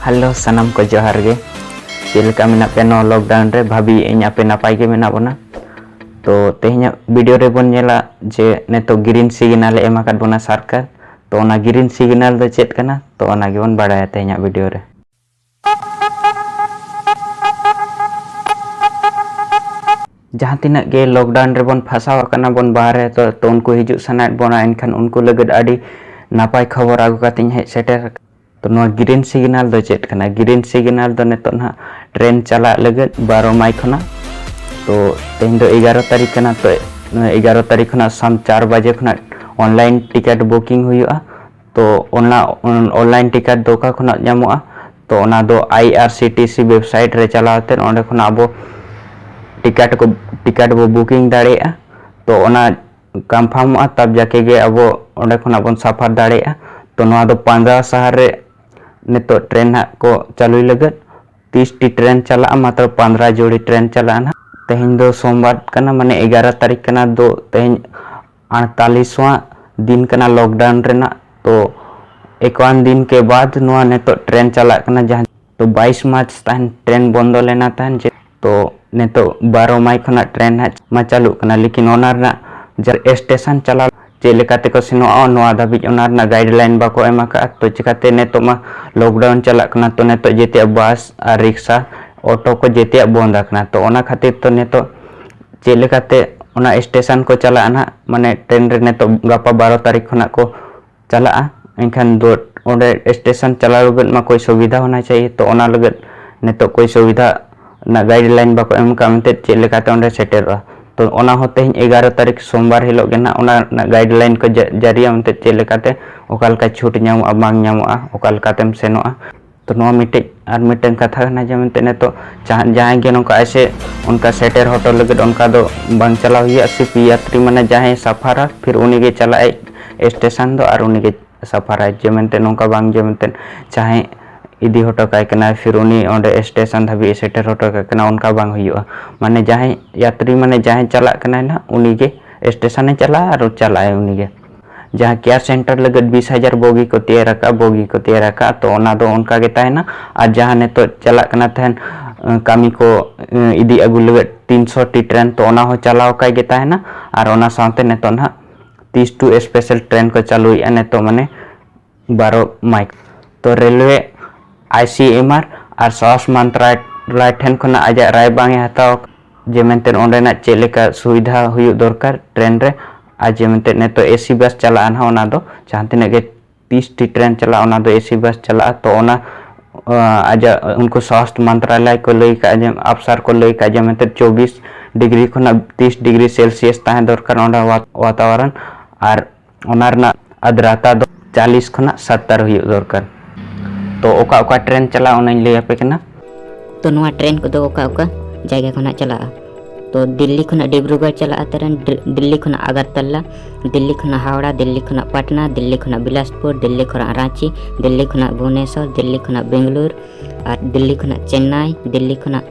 hello ᱥᱟᱱᱟᱢ ᱠᱚ ᱡᱚᱦᱟᱨ ᱜᱮ ᱪᱮᱫ ᱞᱮᱠᱟ ᱢᱮᱱᱟᱜ ᱯᱮ ᱱᱚᱣᱟ ᱞᱚᱠᱰᱟᱣᱩᱱ ᱨᱮ ᱵᱷᱟᱵᱤ ᱤᱧ ᱟᱯᱮ ᱱᱟᱯᱟᱭ ᱜᱮ ᱢᱮᱱᱟᱜ ᱵᱚᱱᱟ ᱛᱚ ᱛᱮᱦᱮᱧᱟᱜ ᱵᱷᱤᱰᱤᱭᱳ ᱨᱮᱵᱚᱱ ᱧᱮᱞᱟ ᱡᱮ ᱱᱤᱛᱚᱜ ᱜᱨᱤᱱ ᱥᱤᱜᱽᱱᱟᱞ ᱮᱢ ᱟᱠᱟᱫ ᱵᱚᱱᱟ ᱥᱚᱨᱠᱟᱨ ᱛᱚ ᱚᱱᱟ ᱜᱨᱤᱱ ᱥᱤᱜᱽᱱᱟᱞ ᱫᱚ ᱪᱮᱫ ᱠᱟᱱᱟ ᱛᱚ ᱚᱱᱟ ᱜᱮᱵᱚᱱ ᱵᱟᱲᱟᱭᱟ ᱛᱮᱦᱮᱧᱟᱜ ᱵᱷᱤᱰᱤᱭᱳ ᱨᱮ ᱡᱟᱦᱟᱸ ᱛᱤᱱᱟᱹᱜ ᱜᱮ ᱞᱚᱠᱰᱟᱣᱩᱱ ᱨᱮᱵᱚᱱ ᱯᱷᱟᱥᱟᱣ ᱟᱠᱟᱱᱟ ᱵᱚᱱ ᱵᱟᱦᱨᱮ ᱛᱚ ᱛᱚ ᱩᱱᱠᱩ ᱦᱤᱡᱩᱜ ᱥᱟᱱᱟᱭᱮᱫ ᱵᱚᱱᱟ ᱮᱱᱠᱷᱟᱱ ᱩᱱᱠᱩ ᱞᱟᱹᱜᱤᱫ ᱟᱹᱰᱤ ᱱᱟᱯᱟᱭ ᱠᱷᱚᱵᱚᱨ ᱟᱹᱜᱩ ᱠᱟᱛᱮᱧ ᱦᱮᱡ ᱥᱮᱴᱮᱨ ᱟᱠᱟᱱᱟ ᱛᱚ ᱱᱚᱣᱟ ᱜᱨᱤᱱ ᱥᱤᱜᱽᱱᱟᱞ ᱫᱚ ᱪᱮᱫ ᱠᱟᱱᱟ ᱜᱨᱤᱱ ᱥᱤᱜᱽᱱᱟᱞ ᱫᱚ ᱱᱤᱛᱚᱜ ᱱᱟᱦᱟᱜ ᱴᱨᱮᱱ ᱪᱟᱞᱟᱜ ᱞᱟᱹᱜᱤᱫ ᱵᱟᱨᱚ ᱢᱟᱭ ᱠᱷᱚᱱᱟᱜ ᱛᱚ ᱛᱮᱦᱮᱧ ᱫᱚ ᱮᱜᱟᱨᱚ ᱛᱟᱹᱨᱤᱠᱷ ᱠᱟᱱᱟ ᱛᱚ ᱮᱜᱟᱨᱚ ᱛᱟᱹᱨᱤᱠᱷ ᱠᱷᱚᱱᱟᱜ ᱥᱟᱢ ᱪᱟᱨ ᱵᱟᱡᱮ ᱠᱷᱚᱱᱟᱜ ᱚᱱᱞᱟᱭᱤᱱ ᱴᱤᱠᱮᱴ ᱵᱩᱠᱤᱝ ᱦᱩᱭᱩᱜᱼᱟ ᱛᱚ ᱚᱱᱟ ᱚᱱᱞᱟᱭᱤᱱ ᱴᱤᱠᱮᱴ ᱫᱚ ᱚᱠᱟ ᱠᱷᱚᱱᱟᱜ ᱧᱟᱢᱚᱜᱼᱟ ᱛᱚ ᱚᱱᱟ ᱫᱚ ᱟᱭ ᱟᱨ ᱥᱤ ᱴᱤ ᱥᱤ ᱣᱮᱵᱽᱥᱟᱭᱤᱴ ᱨᱮ ᱪᱟᱞᱟᱣ ᱠᱟᱛᱮᱫ ᱚᱸᱰᱮ ᱠᱷᱚᱱᱟᱜ ᱟᱵᱚ ᱴᱤᱠᱮᱴ ᱠᱚ ᱴᱤᱠᱮᱴ ᱵᱚ ᱵᱩᱠᱤᱝ ᱫᱟᱲᱮᱭᱟᱜᱼᱟ ᱛᱚ ᱚᱱᱟ ᱠᱚᱱᱯᱷᱟᱨᱢᱚᱜᱼᱟ ᱛᱟᱵ ᱡᱟᱠᱮ ᱜᱮ ᱟᱵᱚ ᱚᱸᱰᱮ ᱠᱷᱚᱱᱟᱜ ᱵᱚᱱ ᱥᱟᱯᱷᱟᱨ ᱫᱟᱲᱮᱭᱟᱜᱼᱟ ᱛᱚ ᱱᱚᱣᱟ ᱫᱚ ᱯᱟᱸᱡᱟ ᱥᱟᱦᱟᱨ ᱨᱮ ᱱᱤᱛᱚᱜ ᱴᱨᱮᱱ ᱦᱟᱸᱜ ᱠᱚ ᱪᱟᱹᱞᱩᱭ ᱞᱟᱹᱜᱤᱫ ᱛᱤᱥᱴᱤ ᱴᱨᱮᱱ ᱪᱟᱞᱟᱜᱼᱟ ᱢᱟᱛᱨᱚ ᱯᱚᱱᱫᱨᱟ ᱡᱳᱲᱤ ᱴᱨᱮᱱ ᱪᱟᱞᱟᱜᱼᱟ ᱱᱟᱦᱟᱜ ᱛᱮᱦᱮᱧ ᱫᱚ ᱥᱳᱢᱵᱟᱨ ᱠᱟᱱᱟ ᱢᱟᱱᱮ ᱮᱜᱟᱨᱚ ᱛᱟᱹᱨᱤᱠᱷ ᱠᱟᱱᱟ ᱫᱚ ᱛᱮᱦᱮᱧ ᱟᱴᱛᱟᱞᱤᱥᱣᱟᱜ ᱫᱤᱱ ᱠᱟᱱᱟ ᱞᱚᱠᱰᱟᱣᱩᱱ ᱨᱮᱱᱟᱜ ᱛᱚ ᱮᱠᱣᱟᱱ ᱫᱤᱱ ᱠᱮ ᱵᱟᱫ ᱱᱚᱣᱟ ᱱᱤᱛᱚᱜ ᱴᱨᱮᱱ ᱪᱟᱞᱟᱜ ᱠᱟᱱᱟ ᱡᱟᱦᱟᱸ ᱛᱚ ᱵᱟᱭᱤᱥ ᱢᱟᱨᱪ ᱛᱟᱦᱮᱱ ᱴᱨᱮᱱ ᱵᱚᱱᱫᱚ ᱞᱮᱱᱟ ᱛᱟᱦᱮᱱ ᱡᱮ ᱛᱚ ᱱᱤᱛᱚᱜ ᱵᱟᱨᱚ ᱢᱟᱭ ᱠᱷᱚᱱᱟᱜ ᱴᱨᱮᱱ ᱦᱟᱸᱜ ᱢᱟ ᱪᱟᱹᱞᱩᱜ ᱠᱟᱱᱟ ᱞᱮᱠᱤᱱ ᱚᱱᱟ ᱨᱮᱱᱟᱜ ᱡᱟᱦᱟᱸ ᱥᱴᱮᱥᱚᱱ ᱪᱟᱞᱟᱣ ᱪᱮᱫ ᱞᱮᱠᱟ ᱛᱮᱠᱚ ᱥᱮᱱᱚᱜᱼᱟ ᱱᱚᱣᱟ ᱫᱷᱟᱹᱵᱤᱡ ᱚᱱᱟ ᱨᱮᱱᱟᱜ ᱜᱟᱭᱤᱰᱞᱟᱭᱤᱱ ᱵᱟᱠᱚ ᱮᱢ ᱟᱠᱟᱫᱼᱟ ᱛᱚ ᱪᱤᱠᱟᱹᱛᱮ ᱱᱤᱛᱚᱜ ᱢᱟ ᱞᱚᱠᱰᱟᱣᱩᱱ ᱪᱟᱞᱟᱜ ᱠᱟᱱᱟ ᱛᱚ ᱱᱤᱛᱚᱜ ᱡᱮᱛᱮᱭᱟᱜ ᱵᱟᱥ ᱟᱨ ᱨᱤᱠᱥᱟ ᱚᱴᱳ ᱠᱚ ᱡᱮᱛᱮᱭᱟᱜ ᱵᱚᱱᱫ ᱟᱠᱟᱱᱟ ᱛᱚ ᱚᱱᱟ ᱠᱷᱟᱹᱛᱤᱨ ᱛᱮ ᱱᱤᱛᱚᱜ ᱪᱮᱫ ᱞᱮᱠᱟᱛᱮ ᱚᱱᱟ ᱥᱴᱮᱥᱚᱱ ᱠᱚ ᱪᱟᱞᱟᱜᱼᱟ ᱱᱟᱦᱟᱜ ᱢᱟᱱᱮ ᱴᱨᱮᱱ ᱨᱮ ᱱᱤᱛᱚᱜ ᱜᱟᱯᱟ ᱵᱟᱨᱚ ᱛᱟᱹᱨᱤᱠᱷ ᱠᱷᱚᱱᱟᱜ ᱠᱚ ᱪᱟᱞᱟᱜᱼᱟ ᱮᱱᱠᱷᱟᱱ ᱫᱚ ᱚᱸᱰᱮ ᱥᱴᱮᱥᱚᱱ ᱪᱟᱞᱟᱣ ᱞᱟᱹᱜᱤᱫ ᱢᱟ ᱠᱳᱭ ᱥᱩᱵᱤᱫᱷᱟ ᱦᱳᱱᱟ ᱪᱟᱦᱤᱭᱮ ᱛᱚ ᱚᱱᱟ ᱞᱟᱹᱜᱤᱫ ᱱᱤᱛᱚᱜ ᱠᱳᱭ ᱥᱩᱵᱤᱫᱷᱟ ᱨᱮᱱᱟᱜ ᱜᱟᱭᱤᱰ ᱞᱟᱭᱤᱱ ᱵᱟᱠᱚ ᱮᱢ ᱟᱠᱟᱫ ᱢᱮᱱᱛᱮ ᱪᱮᱫ ᱞᱮᱠᱟᱛᱮ ᱚᱸᱰᱮ ᱥᱮᱴᱮᱨᱚᱜᱼᱟ ᱛᱚ ᱚᱱᱟ ᱦᱚᱸ ᱛᱮᱦᱮᱧ ᱮᱜᱟᱨᱚ ᱛᱟᱹᱨᱤᱠᱷ ᱥᱳᱢᱵᱟᱨ ᱦᱤᱞᱳᱜ ᱜᱮ ᱱᱟᱦᱟᱜ ᱚᱱᱟ ᱨᱮᱱᱟᱜ ᱜᱟᱭᱤᱰ ᱞᱟᱭᱤᱱ ᱠᱚ ᱡᱟᱹᱨᱤᱭᱟ ᱢᱮᱱᱛᱮ ᱪᱮᱫ ᱞᱮᱠᱟᱛᱮ ᱚᱠᱟ ᱞᱮᱠᱟ ᱪᱷᱩᱴ ᱧᱟᱢᱚᱜᱼᱟ ᱵᱟᱝ ᱧᱟᱢᱚᱜᱼᱟ ᱚᱠᱟ ᱞᱮᱠᱟᱛᱮᱢ ᱥᱮᱱᱚᱜᱼᱟ ᱛᱚ ᱱᱚᱣᱟ ᱢᱤᱫᱴᱮᱡ ᱟᱨ ᱢᱤᱫᱴᱮᱱ ᱠᱟᱛᱷᱟ ᱠᱟᱱᱟ ᱡᱮ ᱢᱮᱱᱛᱮ ᱱᱤᱛᱚᱜ ᱡᱟᱦᱟᱸᱭ ᱜᱮ ᱱᱚᱝᱠᱟ ᱮᱥᱮ ᱚᱱᱠᱟ ᱥᱮᱴᱮᱨ ᱦᱚᱴᱚ ᱞᱟᱹᱜᱤᱫ ᱚᱱᱠᱟ ᱫᱚ ᱵᱟᱝ ᱪᱟᱞᱟᱣ ᱦᱩᱭᱩᱜᱼᱟ ᱥᱤᱯ ᱭᱟᱛᱨᱤ ᱢᱟᱱᱮ ᱡᱟᱦᱟᱸᱭ ᱥᱟᱯᱷᱟᱨᱟ ᱯᱷᱤᱨ ᱩᱱᱤ ᱜᱮ ᱪᱟᱞᱟᱜ ᱟᱭ ᱥᱴᱮᱥᱚᱱ ᱫᱚ ᱟᱨ ᱩᱱᱤ ᱜᱮ ᱥᱟᱯᱷᱟᱨᱟᱭ ᱡᱮ ᱢᱮᱱᱛᱮ ᱱᱚᱝᱠᱟ ᱵᱟᱝ ᱡᱮ ᱢᱮᱱᱛᱮ ᱡᱟᱦᱟᱸᱭ ᱤᱫᱤ ᱦᱚᱴᱚ ᱠᱟᱭ ᱠᱟᱱᱟ ᱯᱷᱤᱨ ᱩᱱᱤ ᱚᱸᱰᱮ ᱥᱴᱮᱥᱚᱱ ᱫᱷᱟᱹᱵᱤᱡ ᱥᱮᱴᱮᱨ ᱦᱚᱴᱚ ᱠᱟᱭ ᱠᱟᱱᱟ ᱚᱱᱠᱟ ᱵᱟᱝ ᱦᱩᱭᱩᱜᱼᱟ ᱢᱟᱱᱮ ᱡᱟᱦᱟᱸᱭ ᱭᱟᱛᱨᱤ ᱢᱟᱱᱮ ᱡᱟᱦᱟᱸᱭ ᱪᱟᱞᱟᱜ ᱠᱟᱱᱟᱭ ᱱᱟᱦᱟᱜ ᱩᱱᱤ ᱜᱮ ᱥᱴᱮᱥᱚᱱᱮ ᱪᱟᱞᱟᱜᱼᱟ ᱟᱨ ᱪᱟᱞᱟᱜ ᱟᱭ ᱩᱱᱤ ᱜᱮ ᱡᱟᱦᱟᱸ ᱠᱮᱭᱟᱨ ᱥᱮᱱᱴᱟᱨ ᱞᱟᱹᱜᱤᱫ ᱵᱤᱥ ᱦᱟᱡᱟᱨ ᱵᱚᱜᱤ ᱠᱚ ᱛᱮᱭᱟᱨ ᱟᱠᱟᱫᱼᱟ ᱵᱚᱜᱤ ᱠᱚ ᱛᱮᱭᱟᱨ ᱟᱠᱟᱫᱼᱟ ᱛᱚ ᱚᱱᱟ ᱫᱚ ᱚᱱᱠᱟ ᱜᱮ ᱛᱟᱦᱮᱱᱟ ᱟᱨ ᱡᱟᱦᱟᱸ ᱱᱤᱛᱚᱜ ᱪᱟᱞᱟᱜ ᱠᱟᱱᱟ ᱛᱟᱦᱮᱱ ᱠᱟᱹᱢᱤ ᱠᱚ ᱤᱫᱤ ᱟᱹᱜᱩ ᱞᱟᱹᱜᱤᱫ ᱛᱤᱱᱥᱚ ᱴᱤ ᱴᱨᱮᱱ ᱛᱚ ᱚᱱᱟ ᱦᱚᱸ ᱪᱟᱞᱟᱣ ᱟᱠᱟᱭ ᱜᱮ ᱛᱟᱦᱮᱱᱟ ᱟᱨ ᱚᱱᱟ ᱥᱟᱶᱛᱮ ᱱᱤᱛᱚᱜ ᱱᱟᱦᱟᱜ ᱛᱤᱥ ᱴᱩ ᱥᱯᱮᱥᱟᱞ ᱴᱨᱮᱱ ᱠᱚ ᱪᱟᱹᱞᱩᱭᱮᱫᱼᱟ ᱱᱤᱛᱚᱜ ᱢᱟᱱᱮ ᱵᱟᱨᱚ ᱢᱟᱭᱤᱠ ᱫᱚ ᱨᱮᱞᱣᱮ, ᱟᱭᱥᱤᱮᱢᱟᱨ ᱟᱨ ᱥᱟᱦᱚᱥ ᱢᱟᱱᱛᱨᱟᱞᱟᱭ ᱴᱷᱮᱱ ᱠᱷᱚᱱᱟᱜ ᱟᱡᱟᱜ ᱨᱟᱭ ᱵᱟᱝ ᱮ ᱦᱟᱛᱟᱣ ᱟᱠᱟᱫᱟ ᱡᱮ ᱢᱮᱱᱛᱮ ᱚᱸᱰᱮᱱᱟᱜ ᱪᱮᱫ ᱞᱮᱠᱟ ᱥᱩᱵᱤᱫᱷᱟ ᱦᱩᱭᱩᱜ ᱫᱚᱨᱠᱟᱨ ᱴᱨᱮᱱ ᱨᱮ ᱟᱨ ᱡᱮ ᱢᱮᱱᱛᱮ ᱱᱤᱛᱚᱜ ᱮᱥᱤ ᱵᱟᱥ ᱪᱟᱞᱟᱜᱼᱟ ᱱᱟᱦᱟᱜ ᱚᱱᱟ ᱫᱚ ᱡᱟᱦᱟᱸ ᱛᱤᱱᱟᱹᱜ ᱜᱮ ᱛᱤᱥ ᱴᱤ ᱴᱨᱮᱱ ᱪᱟᱞᱟᱜᱼᱟ ᱚᱱᱟ ᱫᱚ ᱮᱥᱤ ᱵᱟᱥ ᱪᱟᱞᱟᱜᱼᱟ ᱛᱚ ᱚᱱᱟ ᱟᱡᱟᱜ ᱩᱱᱠᱩ ᱥᱟᱦᱚᱥ ᱢᱟᱱᱛᱨᱟᱞᱟᱭ ᱠᱚ ᱞᱟᱹᱭ ᱟᱠᱟᱫᱼᱟ ᱡᱮ ᱟᱯᱥᱟᱨ ᱠᱚ ᱞᱟᱹᱭ ᱟᱠᱟᱫᱼᱟ ᱡᱮ ᱢᱮᱱᱛᱮ ᱪᱚᱵᱽᱵᱤᱥ ᱰᱤᱜᱽᱨᱤ ᱠᱷᱚᱱᱟᱜ ᱛᱤᱥ ᱰᱤᱜᱽᱨᱤ ᱥᱮᱞᱥᱤᱭᱟᱥ ᱛᱟᱦᱮᱸ ᱫᱚᱨᱠᱟᱨ ᱚᱸᱰᱮ ᱣᱟᱛᱟᱣᱟᱨᱚᱱ ᱟᱨ ᱚᱱᱟ ᱨᱮᱱᱟᱜ ᱟᱫᱽᱨᱟᱛᱟ ᱫᱚ ᱪᱟᱞᱤᱥ ᱠᱷᱚᱱᱟᱜ ᱥᱟᱛᱛᱟᱨ ᱦᱩᱭᱩᱜ ᱫᱚᱨᱠᱟᱨ ᱛᱚ ᱚᱠᱟ ᱚᱠᱟ ᱴᱨᱮᱱ ᱪᱟᱞᱟᱜᱼᱟ ᱚᱱᱟᱧ ᱞᱟᱹᱭ ᱟᱯᱮ ᱠᱟᱱᱟ ᱛᱚ ᱱᱚᱣᱟ ᱴᱨᱮᱱ ᱠᱚᱫᱚ ᱚᱠᱟ ᱚᱠᱟ ᱡᱟᱭᱜᱟ ᱠᱷᱚᱱᱟᱜ ᱪᱟᱞᱟᱜᱼᱟ ᱛᱚ ᱫᱤᱞᱞᱤ ᱠᱷᱚᱱᱟᱜ ᱰᱤᱵᱽᱨᱩᱜᱚᱲ ᱪᱟᱞᱟᱜᱼᱟ ᱴᱨᱮᱱ ᱫᱤᱞᱞᱤ ᱠᱷᱚᱱᱟᱜ ᱟᱜᱟᱨᱛᱟᱞᱟ ᱫᱤᱞᱞᱤ ᱠᱷᱚᱱᱟᱜ ᱦᱟᱣᱲᱟ ᱫᱤᱞᱞᱤ ᱠᱷᱚᱱᱟᱜ ᱯᱟᱴᱱᱟ ᱫᱤᱞᱞᱤ ᱠᱷᱚᱱᱟᱜ ᱵᱤᱞᱟᱥᱯᱩᱨ ᱫᱤᱞᱞᱤ ᱠᱷᱚᱱᱟᱜ ᱨᱟᱺᱪᱤ ᱫᱤᱞᱞᱤ ᱠᱷᱚᱱᱟᱜ ᱵᱷᱩᱵᱽᱱᱮᱥᱚᱨ ᱫᱤᱞᱞᱤ ᱠᱷᱚᱱᱟᱜ ᱵᱮᱝᱜᱟᱞᱳᱨ ᱟᱨ ᱫᱤᱞᱞᱤ ᱠᱷᱚᱱᱟᱜ ᱪᱮᱱᱱᱟᱭ ᱫᱤᱞᱞᱤ ᱠᱷᱚᱱᱟᱜ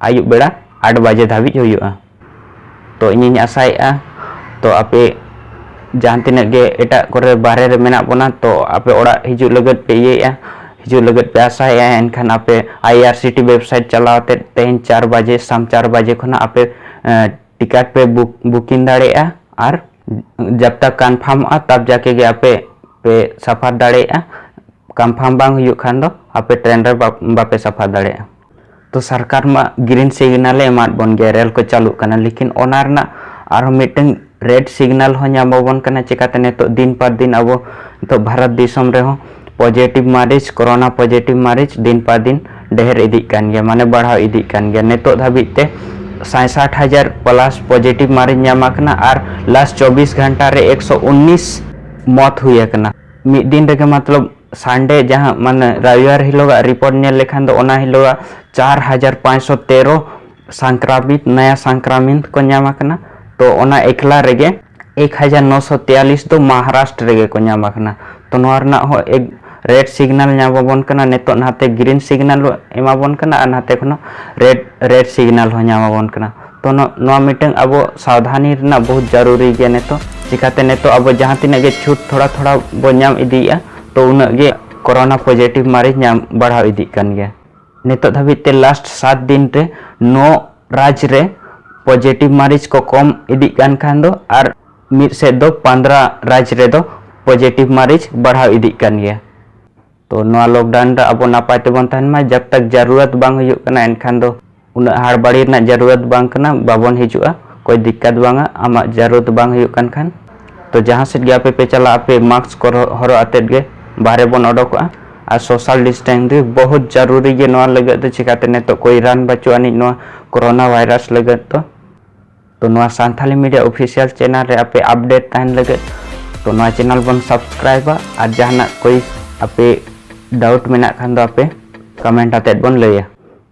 ᱟᱹᱭᱩᱵ ᱵᱮᱲᱟ ᱟᱴ ᱵᱟᱡᱮ ᱫᱷᱟᱹᱵᱤᱡ ᱦᱩᱭᱩᱜᱼᱟ ᱛᱚ ᱤᱧᱤᱧ ᱟᱥᱟᱭᱮᱫᱼᱟ ᱛᱚ ᱟᱯᱮ ᱡᱟᱦᱟᱸ ᱛᱤᱱᱟᱹᱜ ᱜᱮ ᱮᱴᱟᱜ ᱠᱚᱨᱮ ᱵᱟᱦᱨᱮ ᱨᱮ ᱢᱮᱱᱟᱜ ᱵᱚᱱᱟ ᱛᱚ ᱟᱯᱮ ᱚᱲᱟᱜ ᱦᱤᱡᱩᱜ ᱞᱟᱹᱜᱤᱫ ᱯᱮ ᱤᱭᱟᱹᱭᱮᱫᱼᱟ ᱦᱤᱡᱩᱜ ᱞᱟᱹᱜᱤᱫ ᱯᱮ ᱟᱥᱟᱭᱮᱫᱼᱟ ᱮᱱᱠᱷᱟᱱ ᱟᱯᱮ ᱟᱭ ᱟᱨ ᱥᱤ ᱴᱤ ᱣᱮᱵᱽᱥᱟᱭᱤᱴ ᱪᱟᱞᱟᱣ ᱛᱮ ᱛᱮᱦᱮᱧ ᱪᱟᱨ ᱵᱟᱡᱮ ᱥᱟᱢ ᱪᱟᱨ ᱵᱟᱡᱮ ᱠᱷᱚᱱᱟᱜ ᱟᱯᱮ ᱴᱤᱠᱟᱴ ᱯᱮ ᱵᱩᱠ ᱵᱩᱠᱤᱝ ᱫᱟᱲᱮᱭᱟᱜᱼᱟ ᱟᱨ ᱡᱟᱵ ᱛᱟᱠ ᱠᱟᱱᱯᱷᱟᱨᱢᱚᱜᱼᱟ ᱛᱟᱵ ᱡᱟᱠᱮ ᱜᱮ ᱟᱯᱮ ᱯᱮ ᱥᱟᱯᱷᱟᱨ ᱫᱟᱲᱮᱭᱟᱜᱼᱟ ᱠᱟᱱᱯᱷᱟᱨᱢ ᱵᱟᱝ ᱦᱩᱭᱩᱜ ᱠᱷᱟᱱ ᱫᱚ ᱟᱯᱮ ᱴᱨᱮᱱ ᱨᱮ ᱵᱟᱯᱮ ᱥᱟᱯᱷᱟᱨ ᱫᱟᱲᱮᱭᱟᱜᱼᱟ ᱛᱚ ᱥᱚᱨᱠᱟᱨ ᱢᱟ ᱜᱨᱤᱱ ᱥᱤᱜᱽᱱᱟᱞ ᱮ ᱮᱢᱟᱫ ᱵᱚᱱ ᱜᱮᱭᱟ ᱨᱮᱞ ᱠᱚ ᱪᱟᱹᱞᱩᱜ ᱠᱟᱱᱟ ᱞᱮᱠᱤᱱ ᱚᱱᱟ ᱨᱮᱱᱟᱜ ᱟᱨᱦᱚᱸ ᱢᱤᱫᱴᱟᱝ ᱨᱮᱰ ᱥᱤᱜᱽᱱᱟᱞ ᱦᱚᱸ ᱧᱟᱢ ᱟᱵᱚᱱ ᱠᱟᱱᱟ ᱪᱮᱠᱟᱛᱮ ᱱᱤᱛᱚᱜ ᱫᱤᱱ ᱯᱟᱨ ᱫᱤᱱ ᱟᱵᱚ ᱱᱤᱛᱚᱜ ᱵᱷᱟᱨᱚᱛ ᱫᱤᱥᱚᱢ ᱨᱮᱦᱚᱸ ᱯᱚᱡᱮᱴᱤᱵᱷ ᱢᱟᱨᱤᱡᱽ ᱠᱚᱨᱳᱱᱟ ᱯᱚᱡᱮᱴᱤᱵᱷ ᱢᱟᱨᱤᱡᱽ ᱫᱤᱱ ᱯᱟᱨ ᱫᱤᱱ ᱰᱷᱮᱨ ᱤᱫᱤᱜ ᱠᱟᱱ ᱜᱮᱭᱟ ᱢᱟᱱᱮ ᱵᱟᱲᱦᱟᱣ ᱤᱫᱤᱜ ᱠᱟᱱ ᱜᱮᱭᱟ ᱱᱤᱛᱚᱜ ᱫᱷᱟᱹᱵᱤᱡ ᱛᱮ ᱥᱟᱭ ᱥᱟᱴ ᱦᱟᱡᱟᱨ ᱯᱞᱟᱥ ᱯᱚᱡᱮᱴᱤᱵᱷ ᱢᱟᱨᱤᱡᱽ ᱧᱟᱢ ᱟᱠᱟᱱᱟ ᱟᱨ ᱞᱟᱥᱴ ᱪᱚᱵᱵᱤᱥ ᱜᱷᱟᱱᱴᱟ ᱨᱮ ᱮᱠᱥᱚ ᱩᱱᱱᱤᱥ ᱢᱚᱛ ᱦᱩᱭ ᱟᱠᱟᱱᱟ ᱢᱤᱫ ᱫᱤᱱ ᱨᱮᱜᱮ ᱢᱚᱛᱞᱚᱵ ᱥᱟᱱᱰᱮ ᱡᱟᱦᱟᱸ ᱢᱟᱱᱮ ᱨᱟᱭᱟᱨ ᱦᱤᱞᱳᱜᱟᱜ ᱨᱤᱯᱳᱨᱴ ᱧᱮᱞ ᱞᱮᱠᱷᱟᱱ ᱫᱚ ᱚᱱᱟ ᱦᱤᱞᱳᱜᱟᱜ ᱪᱟᱨ ᱦᱟᱡᱟᱨ ᱯᱟᱸᱪᱥᱚ ᱛᱮᱨᱚ ᱥᱟᱝᱠᱨᱟᱢᱤᱛ ᱱᱟᱭᱟ ᱥᱟᱝᱠᱨᱟᱢᱤᱛ ᱠᱚ ᱧᱟᱢ ᱟᱠᱟᱱᱟ ᱛᱚ ᱚᱱᱟ ᱮᱠᱞᱟ ᱨᱮᱜᱮ ᱮᱠ ᱦᱟᱡᱟᱨ ᱱᱚᱥᱚ ᱛᱮᱭᱟᱞᱤᱥ ᱫᱚ ᱢᱚᱦᱟᱨᱟᱥᱴᱨᱚ ᱨᱮᱜᱮ ᱠᱚ ᱧᱟᱢ ᱟᱠᱟᱱᱟ ᱛᱚ ᱱᱚᱣᱟ ᱨᱮᱱᱟᱜ ᱦᱚᱸ ᱮᱠ ᱨᱮᱰ ᱥᱤᱜᱽᱱᱟᱞ ᱧᱟᱢ ᱟᱵᱚᱱ ᱠᱟᱱᱟ ᱱᱤᱛᱚᱜ ᱱᱟᱛᱮ ᱜᱨᱤᱱ ᱥᱤᱜᱽᱱᱟᱞ ᱮᱢᱟᱵᱚᱱ ᱠᱟᱱᱟ ᱟᱨ ᱱᱟᱛᱮ ᱠᱷᱚᱱ ᱨᱮᱰ ᱨᱮᱰ ᱥᱤᱜᱽᱱᱟᱞ ᱦᱚᱸ ᱧᱟᱢ ᱟᱵᱚᱱ ᱠᱟᱱᱟ ᱛᱚ ᱱᱚᱣᱟ ᱢᱤᱫᱴᱟᱝ ᱟᱵᱚ ᱥᱟᱵᱫᱷᱟᱱᱤ ᱨᱮᱱᱟᱜ ᱵᱚᱦᱩᱛ ᱡᱟᱨᱩᱨᱤ ᱜᱮᱭᱟ ᱱᱤᱛᱚᱜ ᱪᱤᱠᱟᱛᱮ ᱱᱤᱛᱚᱜ ᱟᱵᱚ ᱡᱟᱦᱟᱸ ᱛᱤᱱᱟᱹᱜ ᱜᱮ ᱪᱷᱩᱴ ᱛᱷᱚᱲᱟ ᱛᱷᱚᱲᱟ ᱵᱚ ᱧᱟᱢ ᱤᱫᱤᱭᱮᱜᱼᱟ ᱛᱚ ᱩᱱᱟᱹᱜ ᱜᱮ ᱠᱚᱨᱳᱱᱟ ᱯᱚᱡᱮᱴᱤᱵᱷ ᱢᱟᱨᱮ ᱧᱟᱢ ᱵᱟᱲᱦᱟᱣ ᱤᱫᱤᱜ ᱠᱟᱱ ᱜᱮᱭᱟ ᱱᱤᱛᱚᱜ ᱫᱷᱟᱹᱵᱤᱡ ᱛᱮ ᱞᱟᱥᱴ ᱥᱟᱛ ᱫᱤᱱ ᱨᱮ ᱱᱚ ᱨᱟᱡᱽ ᱨᱮ ᱯᱚᱡᱮᱴᱤᱵᱷ ᱢᱟᱨᱤᱡ ᱠᱚ ᱠᱚᱢ ᱤᱫᱤᱜ ᱠᱟᱱ ᱠᱷᱟᱱ ᱫᱚ ᱟᱨ ᱢᱤᱫ ᱥᱮᱫ ᱫᱚ ᱯᱟᱸᱫᱽᱨᱟ ᱨᱟᱡᱽ ᱨᱮᱫᱚ ᱯᱚᱡᱮᱴᱤᱵᱷ ᱢᱟᱨᱤᱡ ᱵᱟᱲᱦᱟᱣ ᱤᱫᱤᱜ ᱠᱟᱱ ᱜᱮᱭᱟ ᱛᱚ ᱱᱚᱣᱟ ᱞᱚᱠᱰᱟᱣᱩᱱ ᱨᱮ ᱟᱵᱚ ᱱᱟᱯᱟᱭ ᱛᱮᱵᱚᱱ ᱛᱟᱦᱮᱱ ᱢᱟ ᱡᱟᱵ ᱛᱟᱠ ᱡᱟᱨᱩᱨᱟᱛ ᱵᱟᱝ ᱦᱩᱭᱩᱜ ᱠᱟᱱᱟ ᱮᱱᱠᱷᱟᱱ ᱫᱚ ᱩᱱᱟᱹᱜ ᱦᱟᱲᱵᱟᱲᱤ ᱨᱮᱱᱟᱜ ᱡᱟᱨᱩᱨᱟᱛ ᱵᱟᱝ ᱠᱟᱱᱟ ᱵᱟᱵᱚᱱ ᱦᱤᱡᱩᱜᱼᱟ ᱠᱚᱭ ᱫᱤᱠᱠᱟᱛ ᱵᱟᱝᱟ ᱟᱢᱟᱜ ᱡᱟᱨᱩᱨᱟᱛ ᱵᱟᱝ ᱦᱩᱭᱩᱜ ᱠᱟᱱ ᱠᱷᱟᱱ ᱛᱚ ᱡᱟᱦᱟᱸ ᱥᱮᱫ ᱜᱮ ᱟᱯᱮ ᱯᱮ ᱪᱟᱞᱟᱜ ᱟᱯᱮ ᱢᱟᱥᱠ ᱠᱚ ᱦᱚᱨᱚᱜ ᱟᱛᱮᱫ ᱜᱮ ᱵᱟᱦᱨᱮ ᱵᱚᱱ ᱚᱰᱚᱠᱚᱜᱼᱟ ᱟᱨ ᱥᱳᱥᱟᱞ ᱰᱤᱥᱴᱮᱱᱥ ᱜᱮ ᱵᱚᱦᱩᱛ ᱡᱟᱨᱩᱨᱤ ᱜᱮ ᱱᱚᱣᱟ ᱞᱟᱹᱜᱤᱫ ᱫᱚ ᱪᱤᱠᱟᱛᱮ ᱱᱤᱛᱚᱜ ᱠᱚᱭ ᱨᱟᱱ ᱵᱟᱹᱪᱩᱜ ᱟᱹᱱᱤᱡ ᱱᱚᱣᱟ ᱠᱳᱨᱳᱱᱟ ᱵᱷᱟᱭᱨᱟᱥ ᱞᱟᱹᱜᱤᱫ ᱫᱚ ᱛᱚ ᱱᱚᱣᱟ ᱥᱟᱱᱛᱷᱟᱞᱤ ᱢᱤᱰᱤᱭᱟ ᱚᱯᱷᱤᱥᱤᱭᱟᱞ ᱪᱮᱱᱮᱞ ᱨᱮ ᱟᱯᱮ ᱟᱯᱰᱮᱴ ᱛᱟᱦᱮᱱ ᱞᱟᱹᱜᱤᱫ ᱛᱚ ᱱᱚᱣᱟ ᱪᱮᱱᱮᱞ ᱵᱚᱱ ᱥᱟᱵᱥᱠᱨᱟᱭᱤᱵᱟ ᱟᱨ ᱡᱟᱦᱟᱱᱟᱜ ᱠᱚᱭ ᱟᱯᱮ ᱰᱟᱣᱩᱴ ᱢᱮᱱᱟᱜ ᱠᱷᱟᱱ ᱫᱚ ᱟᱯᱮ ᱠᱚᱢᱮᱱᱴ ᱟᱛᱮᱫ ᱵᱚᱱ ᱞᱟᱹᱭᱟ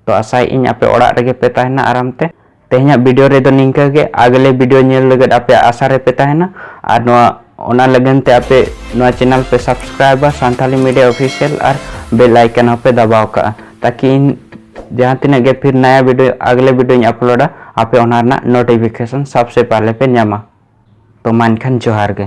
ᱛᱚ ᱟᱥᱟᱭ ᱤᱧ ᱟᱯᱮ ᱚᱲᱟᱜ ᱨᱮᱜᱮ ᱯᱮ ᱛᱟᱦᱮᱱᱟ ᱟᱨᱟᱢ ᱛᱮ ᱛᱮᱦᱮᱧᱟᱜ ᱵᱷᱤᱰᱤᱭᱳ ᱨᱮᱫᱚ ᱱᱤᱝᱠᱟᱹ ᱜᱮ ᱟᱜᱞᱮ ᱵᱷᱤᱰᱤᱭᱳ ᱧᱮᱞ ᱞᱟᱹᱜᱤᱫ ᱟᱯᱮ ᱟᱥᱟ ᱨᱮᱯᱮ ᱛᱟᱦᱮᱱᱟ ᱟᱨ ᱱᱚᱣᱟ ᱚᱱᱟ ᱞᱟᱹᱜᱤᱫ ᱛᱮ ᱟᱯᱮ ᱱᱚᱣᱟ ᱪᱮᱱᱮᱞ ᱯᱮ ᱥᱟᱵᱥᱠᱨᱟᱭᱤᱵᱟ ᱥᱟᱱᱛᱟᱞᱤ ᱢᱤᱰᱤᱭᱟ ᱚᱯᱷᱤᱥᱤᱭᱟᱞ ᱟᱨ ᱵᱮᱞ ᱟᱭᱠᱚᱱ ᱦᱚᱸᱯᱮ ᱫᱟᱵᱟᱣ ᱠᱟᱜᱼᱟ ᱛᱟᱠᱤ ᱤᱧ ᱡᱟᱦᱟᱸ ᱛᱤᱱᱟᱹᱜ ᱜᱮ ᱯᱷᱤᱨ ᱱᱟᱭᱟ ᱵᱷᱤᱰᱤᱭᱳ ᱟᱜᱽᱞᱮ ᱵᱷᱤᱰᱤᱭᱳᱧ ᱟᱯᱞᱳᱰᱟ ᱟᱯᱮ ᱚᱱᱟ ᱨᱮᱱᱟᱜ ᱱᱳᱴᱤᱯᱷᱤᱠᱮᱥᱚᱱ ᱥᱚᱵᱥᱮ ᱯᱟᱦᱞᱮ ᱯᱮ ᱧᱟᱢᱟ ᱛᱚ ᱢᱟ ᱮᱱᱠᱷᱟᱱ ᱡᱚᱦᱟᱨ ᱜᱮ